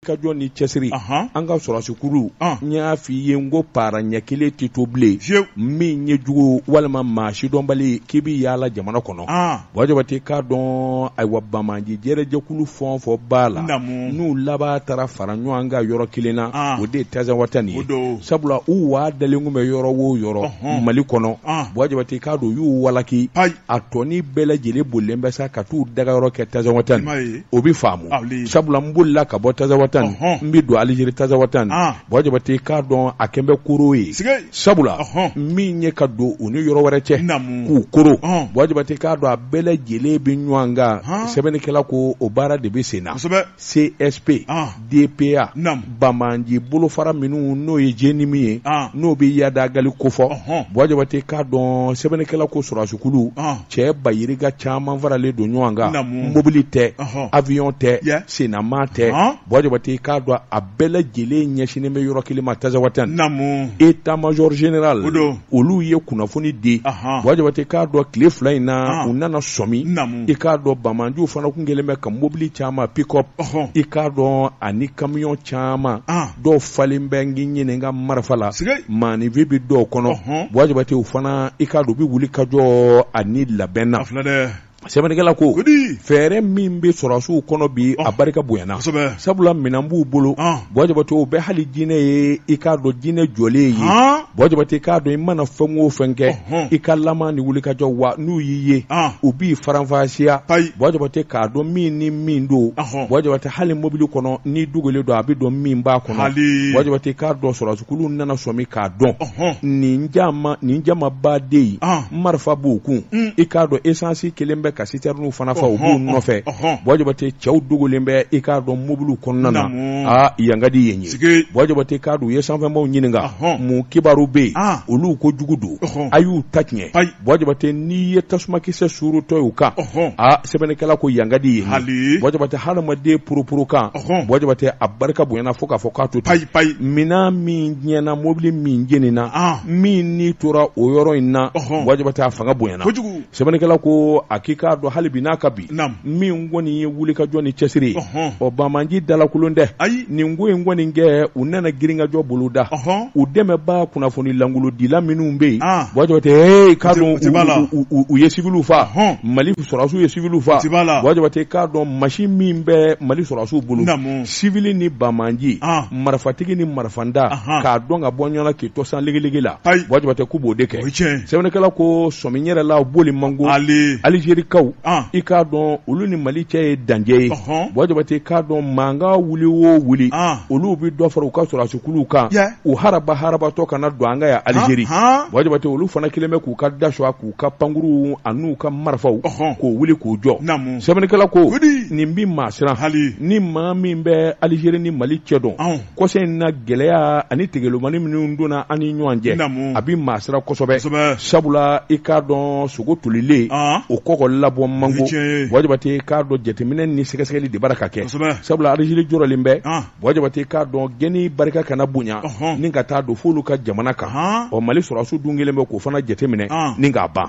kajɔ ni cɛsiri Ahan. an ka sɔrɔsikulu An. n y'a f'i ye n ko para ɲɛ kelen tɛ to bilen Fewu. min ye jugu walima maa sidɔnbali k'i bɛ yaala jamana kɔnɔ An. Buwa Jabate k'a dɔn ayiwa banbaanci jɛrɛjɛkulu fɛn o fɛn b'a la Naamu. n'u laban taara fara ɲɔgɔn kan yɔrɔ kelen na An. o de ye Tazawatɛn O ye don. sabula u waa dalen tun bɛ yɔrɔ o yɔrɔ Ɔhɔn. mali kɔnɔ An. Buwa Jabate k'a dɔn u y'u walaki Ayi. a tɔni bɛɛ lajɛlen bolilen bɛ sa ka t'u dagayɔrɔ kɛ Tazawatɛn I nin m'a ye. o bɛ faamu sabula n'i bolila ka bɔ Tazawatɛn i bɛ don alizeri Tazawatɛn Buwa Jabate k'a dɔn a kɛlen bɛ koro ye sabula min ye ka don u ni yɔrɔ wɛrɛ cɛ k'u koro Buwa Jabate k'a dɔn a bɛɛ lajɛlen bɛ ɲɔgɔn kan sɛbɛnnikɛla ko o baara de bɛ sen na csp DPA naam banbaanci bolofara minnu n'o ye JNIM ye an n'o bɛ Iyad Ag Ghali kofɔ ɔhɔn Buwa Jabate k'a dɔn sɛbɛnnikɛla ko sɔrɔdasikulu an cɛ ba yirika caman faralen don ɲɔgɔn kan Naamu. mobili tɛ ɔhɔn avion tɛ Yeah. sennama tɛ Ɔhɔn. Buwa Jabate k'a dɔn a bɛɛ lajɛlen ɲɛsinnen bɛ yɔrɔ kelen ma Tazawatɛn naamu état major général o don olu ye kunnafoni di Buwa Jabate k'a dɔn tile fila in na u nana sɔmi i k'a dɔn banbaanciw fana tun kɛlen bɛ ka mobili caman pikɔpu i k'a dɔn ani kamiyɔn caman dɔw falen bɛ n k'i ɲininka marifa la maaninw bɛ dɔw kɔnɔ Buwa Jabate u fana i k'a dɔn u bɛ wulikajɔ ani labɛn na sɛbɛnnikɛla ko fɛɛrɛ min bɛ sɔrɔsiw kɔnɔ bi a barika bonyana sabula minɛn b'u bolo Buwa Jabate o bɛ hali jinɛ ye i k'a dɔn jinɛ jɔlen ye Buwa Jabate i k'a dɔn i mana fɛn o fɛn kɛ i ka lamaa ni wulikajɔ wa n'u y'i ye u b'i faranfasiya Buwa Jabate k'a dɔn min ni min don Buwa Jabate hali mobili kɔnɔ n'i dogolen don a bɛ dɔn min b'a kɔnɔ Buwa Jabate i k'a dɔn sɔrɔsikulu nana sɔmi k'a dɔn nin nin jamaba de ye marifa b'u kun mm. i k'a dɔn esansi kɛlen bɛ ka sitɛrininw fana fa u b'u nɔfɛ Buwa Jabate cɛw dogolen bɛ i k'a dɔn mobiliw kɔnɔna na aa yan ka di yen ye Buwa Jabate k'a dɔn u ye sanfɛnbaaw ɲininka mun kibaru bɛ yen ah. olu ko jugu don a y'u ta tiɲɛ Buwa Jabate n'i ye tasumakisɛ suurutɔ y'u kan aa sɛbɛnnikɛla ko yan ka di yen ye Buwa Jabate hadamaden poroporokan Buwa Jabate a barika bonyana fo k'a fɔ k'a to payi payi minɛn min tiɲɛna mobili min jeninina min ni tora o yɔrɔ in na Buwa Jabate a fanga bonyana kojugu sɛbɛnnikɛla ko a k'i k'a dɔn hali bi n'a ka bi min kɔni ye wuli ka jɔ ni cɛsiri ɔ banbaanci dalankolon dɛ ayi nin ko in kɔni kɛ u nana girinkajɔ boloda u dɛmɛbaa kunnafoni lankolondila minnu bɛ yen Buwa Jabate ee k'a dɔn u ye sitiw fa mali sɔrɔdasiw ye siviliw fa wajabate k'a dɔn masi min bɛ mali sɔrɔdasiw bolo sivili ni banbaganci ah. marifatigi ni marifantan k'a dɔn ka bɔ ɲɔgɔn na k'i tɔsan ligiligi la wajabate k'u b'o de kɛ sɛbɛnnikɛla ko sɔmi yɛrɛ la boli man go alizerikaw ah. i k'a dɔn olu ni mali cɛ ye dancɛ ye wajabate k'a dɔn mankan wuli o wuli ah. olu bɛ dɔ fara u ka sɔrɔdasikuluw kan u haraba harabatɔ kana don an ka yan alizeri wajabate olu fana kelen bɛ k'u ka dasu a k'u u ka pankuruw an'u ka marifaw k'o wuli k'o jɔ sɛbɛnnikɛla ko nin bɛ maa siran ni maa min bɛ alizeri ni mali cɛ dɔn kɔsa in na gɛlɛya ani tegelomani minnu donna an ni ɲɔgɔn cɛ a bɛ maa siran kosɛbɛ sabula i k'a dɔn sogo tolilen o kɔkɔ labɔ man go wajibati i k'a dɔn jateminɛ ni sɛgɛsɛgɛli de b'a la ka kɛ sabula alizeri jɔrɔlen bɛ wa jabate k'a dɔn gɛnni barika kana bonya ni ka taa don f'olu ka jamana kan ɔ mali sɔrɔdasiw dun kelen bɛ k'o fana jateminɛ ni k'a ban